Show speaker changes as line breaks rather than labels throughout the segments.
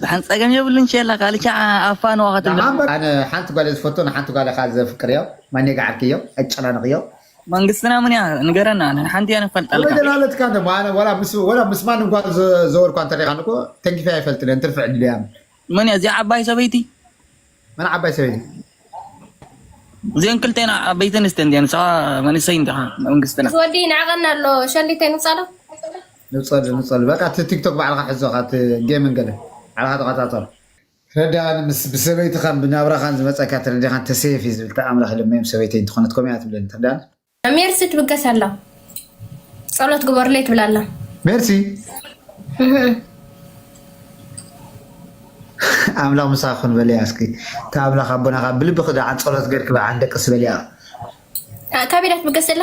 ደሓን ጸገም የብሉን ቸላ ካልእ ሸዓ ኣብ ፋንዋ ከተብለ ደሓን በል ኣነ ሓንቲ
ጓል እየ ዝፈቱ ንሓንቲ ጓል እኻ ዘፍቅርዮ ማኔ ገዓልክዮ ኣጨናንቕዮ መንግስትና ምን
እያ ንገረና ንሓንቲ እያ ንፈልጣልካ ወይደን ኣለትካ እንደ
ኣነ
ወላ
ምስ ወላ ምስ ማንም ጓል ዘወርኳ እንተሪኻን እኮ ተንኪፈ ኣይፈልጥን እየ እንትርፊ ዕድል እያ መን እያ እዚኣ
ዓባይ ሰበይቲ መን ዓባይ
ሰበይቲ? እዚኤን
ክልቴን ዓበይቲ ኣንስቲ እንድየን ንስኻ መንእሰይ እንዲኻ መንግስትና። እዚ ወዲ ይንዕቐኒ ኣሎ
ሸሊት ኣይንውጻእዶ?
ንውጸሉ ንውጸሉ በቃ እቲ ቲክቶክ ባዕልኻ ሕዞ እኻ እቲ ጌምን ገለ ባዕልኻ ተቆጻጸሮ። ትረዳሃኒ ምስ ብሰበይትኻን ብናብራኻን ዝመጸካ ተረዲኻን ተሰየፍ እየ ዝብል ተኣምር ክልመዮም ሰበይተይ እንተኾነት ከምኡ እያ ትብለኒ ትረዳሃኒ። እታ ሜርሲ ትብገስ
ኣላ ጸሎት ግበሩለይ ትብል ኣላ። ሜርሲ
ኣምላኽ ምሳኺ ይኹን በልያ እስኪ እታ ኣምላኽ ኣቦና ካብ ብልብኺ ደኣ ጸሎት ጌርኪ በዓ ንደቅሲ በልያ።
ካበይ እያ ትብገስ ዘላ?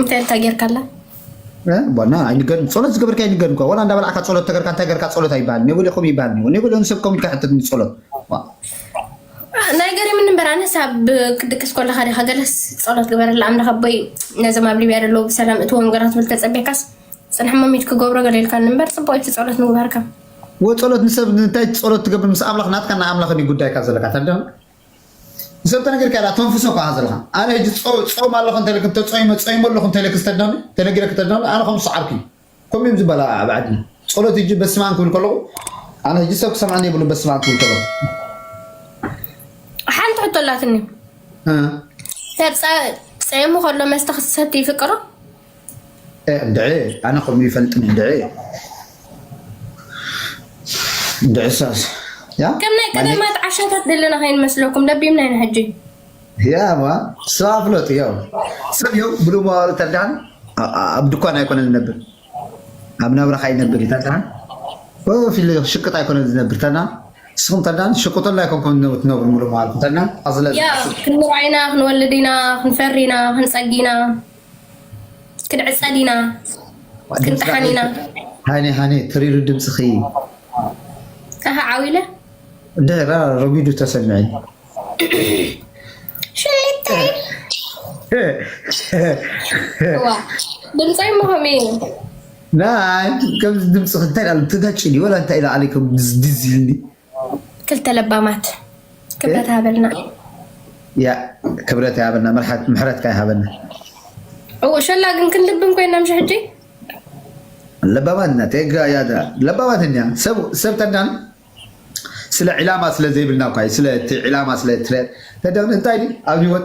እንታይ እንታይ
ጌርካ ኣላ ዋና
ኣይንገርን ጸሎት ዝገበርካ ኣይንገርን እኳ ዋላ እንዳበላዕካ ጸሎት ተገርካ እንታይ ገርካ ጸሎት ኣይበሃል ኔቦሌኹም ይበሃል ኔቦ ኔቦሌ ንሰብ ከም ኢልካ ሕተት ጸሎት
ናይ ገሪምን እምበር ኣነስ ኣብ ክትድቅስ ኮለካ ዲካ ገለስ ጸሎት ግበረላ ኣምላኽ ኣቦይ ነዞም ኣብ ሊብያ ደለዉ ብሰላም እትዎ ነገራት ብል ተጸቢካስ ጽንሕ መሚት ክገብሮ ገሌልካ እምበር ጽቡቅ እቲ ጸሎት ምግባርካ ወጸሎት
ንሰብ እንታይ ጸሎት ትገብር ምስ ኣምላኽ ናትካ ና ኣምላኽ ጉዳይካ ዘለካ ተርዳ ንሰብ ተነጊርካያ ድኣ ተንፍሶ እኮ ኢካ ዘለካ ኣነ ህጂ ጾ ጾም ኣለኩ እንተ ኢለኪ ተጾይመ ጾይመ ኣለኩ እንተ ኢለኪ ተድነኒ ተነጊረኪ ተድነኒ ኣነ ከምዚ ሰዓብኪ እዩ ከምኡ እዮም ዝባል ኣብ ዓድና ጾሎት ህጂ በስማም ክብል ከለኩ ኣነ ህጂ ሰብ ክሰምዐኒ የብሉን በስማም ክብል ከለኩ
ሓንቲ ሕቶ ኣላትኒ
ሰብ ጸ
ጸይሙ ከሎ መስተ ክሰቲ ይፍቅሮ
እንድዒ ኣነ ከምኡ ይፈልጥን እንድዒ እንድዒ ሳስ ያ ከም ናይ ቀደማት
ዓሻታት ዘለና ከይንመስለኩም ደቢምና ኢና ሕጂ
ያማ ስባ ፍለጡ ያው ሰብ ያው ብሉ መዋሉ ተዳን ኣብ ድኳን ኣይኮነ ዝነብር ኣብ ናብራኻ ይነብር እዩ ተዳን ፊል ሽቅጥ ኣይኮነ ዝነብር ተና ንስኹም ተዳን ሽቅጦላ ኣይኮንኩም ትነብሩ ሙሉ መዋልኩም ተና ኣዝለ ክንምርዓይና
ክንወልድ ኢና ክንፈሪ ኢና ክንፀጊ ኢና ክንዕጸ ዲና ክንጥሓን ኢና ሃኒ
ሃኒ ትሪሩ ድምጽኺ ኣሃ
ዓዊለ ድሕራ
ረጒዱ ተሰምዐኒ
ሽሊተይ ዋ ድምጸይ እሞ ከምኡ እዩ
ናይ ከምዚ ድምጽኺ እንታይ ዳሉ ትጋጭ ድዩ ወላ እንታይ ኢላ ኣለይ ከም ድዝ ኢልኒ ክልተ
ለባማት
ክብረት ሃበልና። ያእ ክብረት ይሃበልና ምሕረትካ ይሃበና። እው
ሸላ ግን ክንልብም ኮይና ምሽ ሕጂ
ለባማት ኢና ቴጋ ያዳ ለባማት እኛ ሰብ ሰብ ተዳን ስለ ዒላማ ስለ ዘይብልና እኳ እዩ ስለ እቲ ዒላማ ስለ ትረ ተዳን እንታይ ድዩ ኣብ ህይወት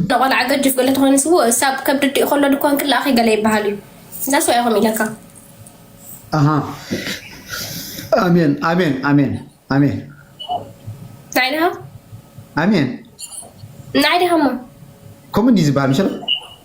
እታ ቆልዓ ገጅፍ ገለ ተኮይኑ ስውእ እሳብ ከብዲ ኣዲኡ ከሎ ድኮን ክላኣኪ ገለ ይባሃል እዩ ዛስ ዋይ ከምኡ ኢለካ።
ኣሃ ኣሜን ኣሜን ኣሜን ኣሜን ናይ
ድሃ
ኣሜን
ናይ ድሃ እሞ ከምኡ እንድዩ
ዝባሃል መሰለ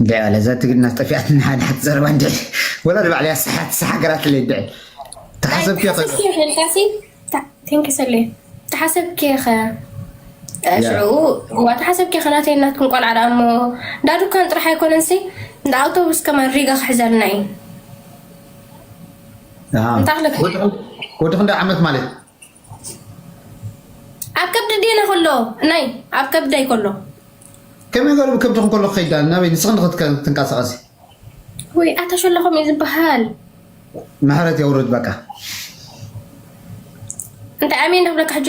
እንድዒ ኣለ እዛ ትግርና ጠፊኣት ንሓደ ሓቲ ዘረባ እንድዒ ወላ ንባዕሉ እያ ሰሓት ሰሓገራት ለይ እንድዒ ተሓሰብኪ ተሓሰብኪ ኸ
ሽዑኡ እዋ ተሓሰብኪ ኸ ናተይ ናትኩም ቆልዓ ደኣ እሞ እንዳ ዱካን ጥራሕ ኣይኮነን ሲ እንዳ ኣውቶቡስ ከማን ሪጋ ክሕዘልና እዩ እንታይ
ክለክ ወዲ ክንደይ ዓመት ማለት
ኣብ ከብዲ ዲነ ከሎ ናይ ኣብ ከብደይ ከሎ ከመይ
ገሩ ከብድኹ ከሎ ክኸይድ ዳኣ ናበይ ንስኺ ንኽትንቀሳቐሲ ወይ
ኣታ ሸለኹም እዩ ዝበሃል ምሕረት
የውርድ በቃ
እንታይ ኣሜን ዶ ክብለካ ሕጂ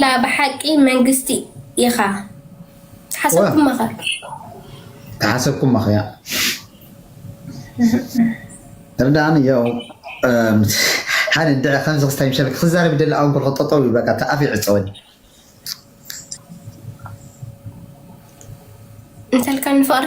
ላ ብሓቂ መንግስቲ ኢኻ
ተሓሰብኩማኸ ተሓሰብኩማኸያ እርዳን ያው ሓደ እንድዒ ከምዚ ክስታይ ምሸል ክዛረብ ይደሊ ኣውን ኮልኮ ጠጠው ይብል በቃ ኣፍ ይዕፀወኒ እንተልካ
ንፍቕሪ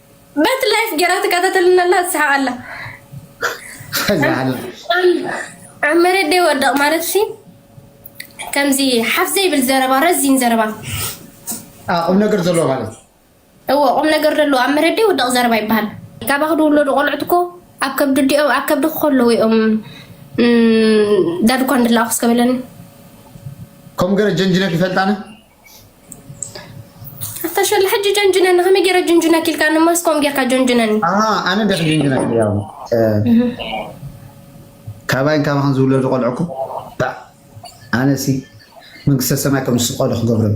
በት ላይፍ ጌራ ትከታተልና ኣላ ትስሓቅ ኣላ ኣብ መሬት ደይ ወደቕ ማለት ሲ ከምዚ ሓፍ ዘይብል ዘረባ ረዚን ዘረባ
ቁም ነገር ዘለዎ ማለት እዎ ቁም
ነገር ዘለዎ ኣብ መሬት ደይ ወደቕ ዘረባ ይበሃል ካባኽ ድውለዱ ቆልዑት እኮ ኣብ ከብዲ ዲኦም ኣብ ከብዲ ከለዉ እዮም ዳድኳ እንድላኣኹ እስከበለኒ
ከም ገረ ጀንጅነት ይፈልጣነ
ኣታሸለ ሕጂ ጀንጅነኒ ከመይ ገይረ ጅንጅነክ ኢልካ ንማስኮም ጌርካ ጀንጅነኒ ኣነ ደክ
ጀንጅነ ያው ካባይን ካባክን ዝውለዱ ቆልዑኩ ኣነሲ መንግስተ ሰማይ ከም ዝስቀሉ ክገብሮም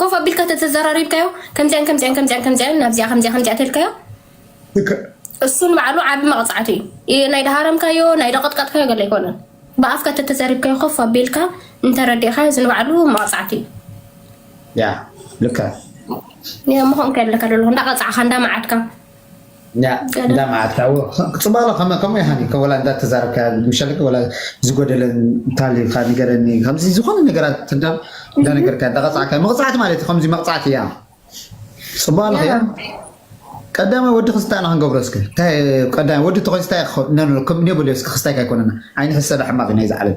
ኮፍ ኣቢልካ ተተዘራሪብካዮ ከምዚኣን ከምዚኣን ከምዚኣን ከምዚኣን ናብዚኣ ከምዚኣ ከምዚኣ ተልካዮ እሱ ንባዕሉ ዓቢ መቕጻዕቲ እዩ ናይ ደሃረምካዮ ናይ ደቐጥቀጥካዮ ገለ ኣይኮነን ብኣፍካ ተተዘሪብካዮ ኮፍ ኣቢልካ እንተረዲእካዮ እዚ ንባዕሉ መቕጻዕቲ እዩ
ያ ልካ
ምኾን ከለካ ደለኹ እንዳቐጻዕካ እንዳመዓድካ ኛዕ
እንዳ መዓልቲ ኣዎ ጽባሎ ከመ ከምኡ ይሃኒ ከ ወላ እንዳ ተዛረብካያ ምሻለኪ ወላ ዝጎደለ እንታልዩካ ንገረኒ ከምዚ ዝኾነ ነገራት እንዳ እንዳ ነገርካያ እንዳ ቀጻዕካያ መቕጻዕቲ ማለት ከምዚ መቕጻዕቲ እያ ጽባሎ ከ ያ ቀዳማይ ወዲ ክስታይ ኣና ክንገብሮ እስከ እንታይ ቀዳማይ ወዲ ተኮይን ስታይ ነብሎ ከም ኔብልዮ እስከ ክስታይካ ኣይኮነና ዓይኒ ሕሰዳ ሕማቅ ናይ ዝዓለም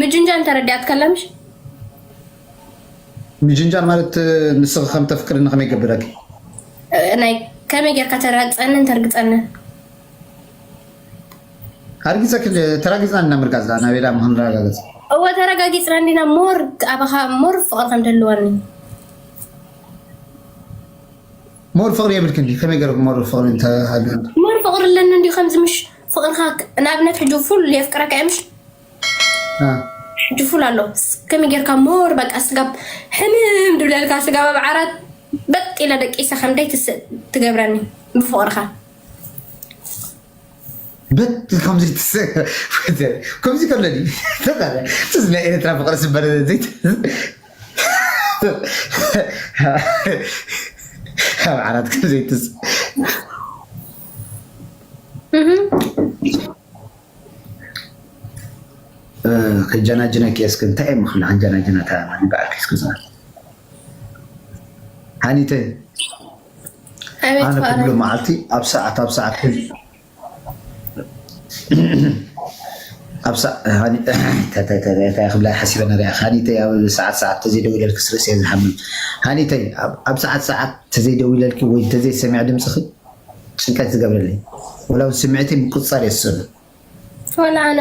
ምጅንጃል ተረዲኣትካ ኣላ
ምሽ ምጅንጃል ማለት ንስኺ ከም ተፍቅድኒ ከመይ ገብረኪ ናይ
ከመይ ጌርካ ተራግፀንን ተርግፀንን
ኣርጊፀኪ ተራጊፅና እንዲና ምርጋፅ ዳኣ ናበይ ዳኣ ምክንረጋገፅ እወ ተረጋጊፅና
እንዲና ሞር ኣባኻ ሞር ፍቕሪ ከም ደልወኒ
ሞር ፍቕሪ የብልክን ድዩ ከመይ ገይረ ሞር ፍቕሪ እንተሃልዩ ሞር ፍቕሪ ኣለኒ
እንዲዩ ከምዚ ምሽ ፍቅርካ ንኣብነት ሕጂ ፉል የፍቅረካ እየ ምሽ ሕጂ ፉል ኣሎ ከመይ ጌርካ ሞር በቃ ስጋብ ሕምም ድብለልካ ስጋብ ኣብ ዓራት በጥ ኢለ ደቂሰ ከምደይ ትስእ ትገብረኒ ብፍቅርካ
በት ከምዚ ትስእ ከምዚ ከሎ እዚ ናይ ኤርትራ ፍቅሪ ዝበረ ዘይት ኣብ ዓራት ከምዘይትስእ ከጃናጅነኪ እየ እስከ እንታይ እየ ምክሪ ከጃናጅና እታ ንበዓልኪ እስከ ዝብል ሓኒተ ኣነ ኩሉ መዓልቲ ኣብ ሰዓት ኣብ ሰዓት እንታይ ክብላ ሓሲበ ነሪያ ሃኒተይ ኣብ ሰዓት ሰዓት ተዘይደዊለልኪ ስርእሲ እየ ዝሓምም ሃኒተይ ኣብ ሰዓት ሰዓት ተዘይደዊለልኪ ወይ ተዘይሰሚዐ ድምፅኺ ጭንቀት ዝገብረለይ ወላ ብ ስሚዕተይ ምቁጽጻር እየ ዝጸሉ ወላ
ኣነ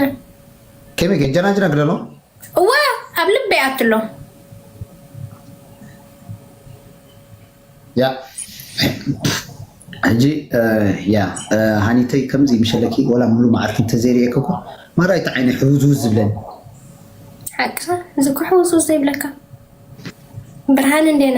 ከመይ
ከጀናጅና ግደሎ እወ
ኣብ ልበይ ኣቱ ኣሎ
ያ ሕጂ ያ ሃኒተይ ከምዚ ምሸለኪ ወላ ሙሉ መዓልቲ እንተዘይርእየኪ እኮ ማራይቲ ዓይነ ሕውዝውዝ ዝብለኒ
ሓቅኻ እዚ እኮ ሕውዝውዝ ዘይብለካ ብርሃን እንዴና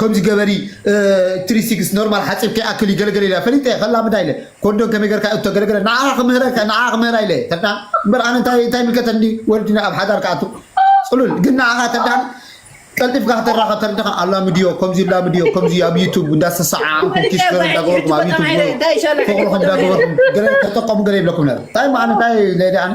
ከምዚ ገበሪ ትሪ ሲክስ ኖርማል ሓጺብ ከይኣክል እዩ ገለ ገለ ኢላ ፈሊጠ ከላምዳ ኢለ ኮርዶን ከመይ ገርካ እቶ ገለ ገለ ንዓኣ ክምህረካ ንዓኣ ክምህራ ኢለ ተድኣ እምበር ኣነ እንታይ እንታይ ይምልከተኒ ወዲ ኣብ ሓዳር ክኣቱ ጽሉል ግን ንዓኻ ተድኣ ቀልጢፍካ ከተራኸብ ተርድኻ ኣላምድዮ ከምዚ ኣላምድዮ ከምዚ ኣብ ዩቱብ እንዳሰሰዓዓምኩም ኪስ ገለ እንዳገበርኩም ኣብ ዩቱብ ፍቕርኹም እንዳገበርኩም ገለ ተጠቀሙ ገለ ይብለኩም ነረ እንታይ እሞ ኣነ እንታይ ለደ ኣነ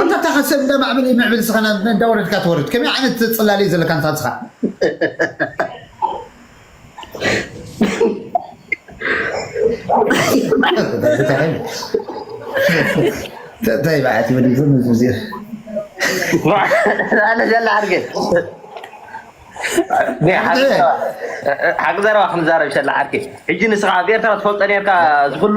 ኣንታ እታ ከሰብ እንዳ ማዕብል ምዕብል ንስኻ ናብ እንዳ ወረድካ ትወርድ ከመይ ዓይነት ጽላል እዩ ዘለካ ኣንታ ንስኻ እንታይ በዓቲ ወዲ ዝም ዝብዚ ኣነ
ዘላ ሓርገ ሓቂ ዘረባ ክንዛረብ ሸላ ዓርኪ ሕጂ ንስኻ ኣብ ኤርትራ ትፈልጦ ነርካ ዝኽሉ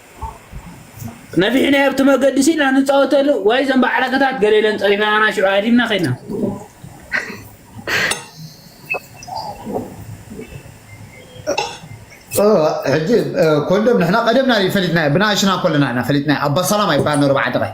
ነፊሕናዮ ኣብቲ መገዲ ሲ ኢና ንፃወተሉ ወይ ዘን ባዕረከታት ገለ ኢለን ፀሪፈናና ሽዑ ሃዲምና ከድና
ሕጂ ኮንዶም ንሕና ቀደምና ፈሊጥና ብናእሽና ኮለና ኢና ፈሊጥና ኣባ ሰላማ ይበሃል ነሩ በዓል ደቐይ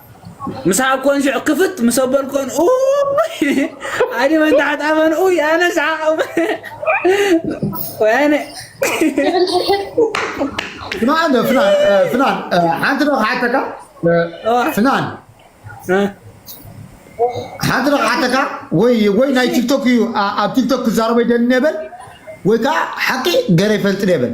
ምስ ሃብኮን ሽዑ ክፍት ምስ ኣበልኮን ኡይ ኣድመን ታሕት ኣመን ኡይ ኣነ ስሓቕ ወይነ
ፍናን ፍናን ፍናን ሓንቲ ዶ ክሓተካ ፍናን ሓንቲ ዶ ክሓተካ ወይ ወይ ናይ ቲክቶክ እዩ ኣብ ቲክቶክ ክዛረበ ይደሊ ነበል ወይ ከዓ ሓቂ ገረ ይፈልጥ ነበል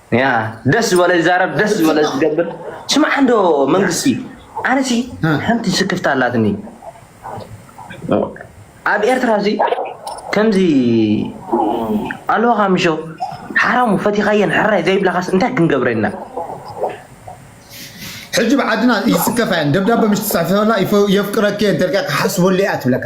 ደስ
ዝበለ ዝዛረብ ደስ ዝበለ ዝገብር ስማዕ እንዶ መንግስቲ ኣነሲ ሓንቲ ስክፍታ ኣላትኒ ኣብ ኤርትራ እዚ ከምዚ ኣለኻ ምሾ ሓራሙ ፈቲኻየን ሕራይ ዘይብላኻስ እንታይ ክንገብረና
ሕጂ ብዓድና ይስከፋ እየን ደብዳበ ምስ ትፅሕፈላ የፍቅረኪ እየ እንተልካ ክሓስበሉ እያ ትብለካ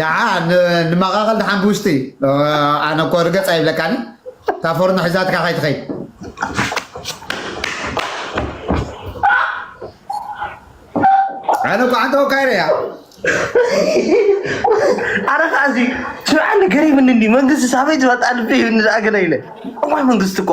ደዓ ንመቓቕል ደሓን ብውሽጢ ኣነ እኮ ርገፅ ኣይብለካን እታ ፎርኖ ሒዛትካ ከይትኸይድ ኣነ እኮ ሓንቲ ወካይረ እያ
ኣረ ከዓ እዚ ስርዓት ገሪምኒ መንግስቲ ሳበይ ዝመጣ ልቢ ይብኒ ዝኣገለ ኢለ እዋይ መንግስቲ እኮ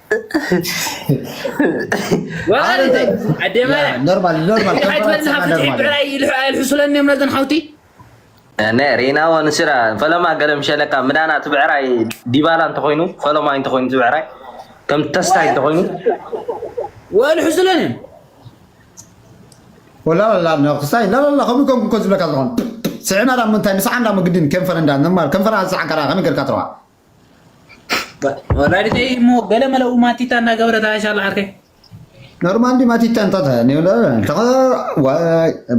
ሪናዎ ንስራ ፈለማ ገለም ሸለካ ምዳና ትብዕራይ ዲባላ እንተኮይኑ ፈለማ እንተኮይኑ ትብዕራይ ከም ተስታይ እንተኮይኑ
ወልሕሱለን
ወላ ወላ ክሳይ ላላላ ከምኡ ከም ኮ ዝብለካ ዝኾን ስዕና ዳ ምንታይ ንስሓ እንዳ ምግድን ከንፈር እንዳ ንማል ከንፈር ኣንስሓ ከራ ከመይ ጌርካ ትረዋ
ወላዲተይ እሞ ገለ መለ ማቲታ እናገበረት ኣሻላ ዓርከይ ኖርማል ዲ
ማቲታ እንታት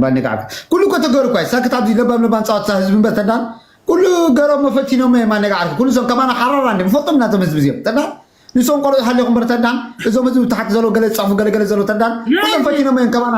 ባኒ ከዓ ኩሉ እኮ ተገሩ እኳ ሳክት ኣብዚ ለባም ለባም ፃወታ ህዝቢ እምበር ተዳን ኩሉ ገሮም መፈቲኖም ማነጋ ዓርኪ ኩሉ ሰም ከማና ሓራራ እንዲ ንፈልጦም ኢና እዞም ህዝቢ እዚኦም ተዳን ንሶም ቆልዑ ሃሊኹም በር ተዳን እዞም ህዝቢ ታሕቲ ዘሎ ገለ ዝፀፉ ገለገለ ዘሎ ተዳን ኩሎም ፈቲኖም እዮም ከማና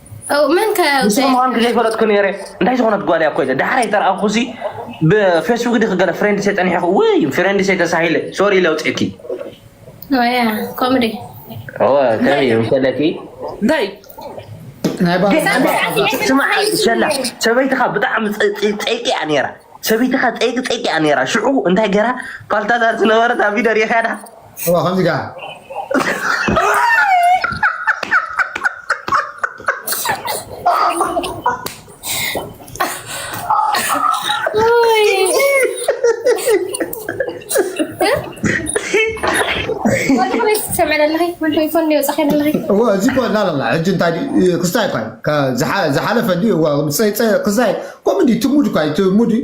መን ከ ንስኹም ምዃንኩ ዘይፈለጥኩ
ነይረ እንታይ ዝኾነት ጓል እያ እኮ ኢለ ዳሕራይ ተረኣኹ ሲ ብፌስቡክ ድክ ገለ ፍሬንድ ሰይ ፀኒሐኹ ውይ ፍሬንድ ሰይ ተሳሂለ ሶሪ ኢለ ውፅእኪ
ኮሜዲ
ከመይ እዩ ሰለኪ
እንታይ
ስማሸላ ሰበይትኻ ብጣዕሚ ፀይቂ እያ ነይራ ሰበይትኻ ፀይቂ ፀይቂ እያ ነይራ ሽዑ እንታይ ገይራ ፓልታዛ ዝነበረት ኣብ ቪደር የኸዳ እዋ ከምዚ
ከኣ እዚ እኮ ላላላ
ሕጂ እንታይ ድዩ ክስታይ እኳ እዩ ዝሓለፈ ድዩ ክስታይ ከምኡ ድዩ እቲ ሙድ እኳ እዩ እቲ ሙድ እዩ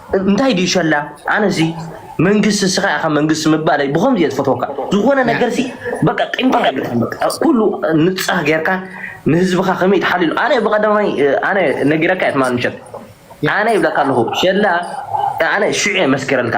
እንታይ ድዩ ሸላ ኣነ ሲ መንግስቲ እስኻ ኢኻ መንግስቲ ምባለይ ብኸምዚ እየ ዝፈትወካ ዝኾነ ነገር ሲ በቃ ቂምታ የብልካን በቃ ኩሉ ንፃህ ጌርካ ንህዝብኻ ከመይ ትሓልሉ ኣነ ብቐዳማይ ኣነ ነጊረካ እየ ትማል ምሸት ኣነ ይብለካ ኣለኹ ሸላ ኣነ ሽዑ እየ መስኪረልካ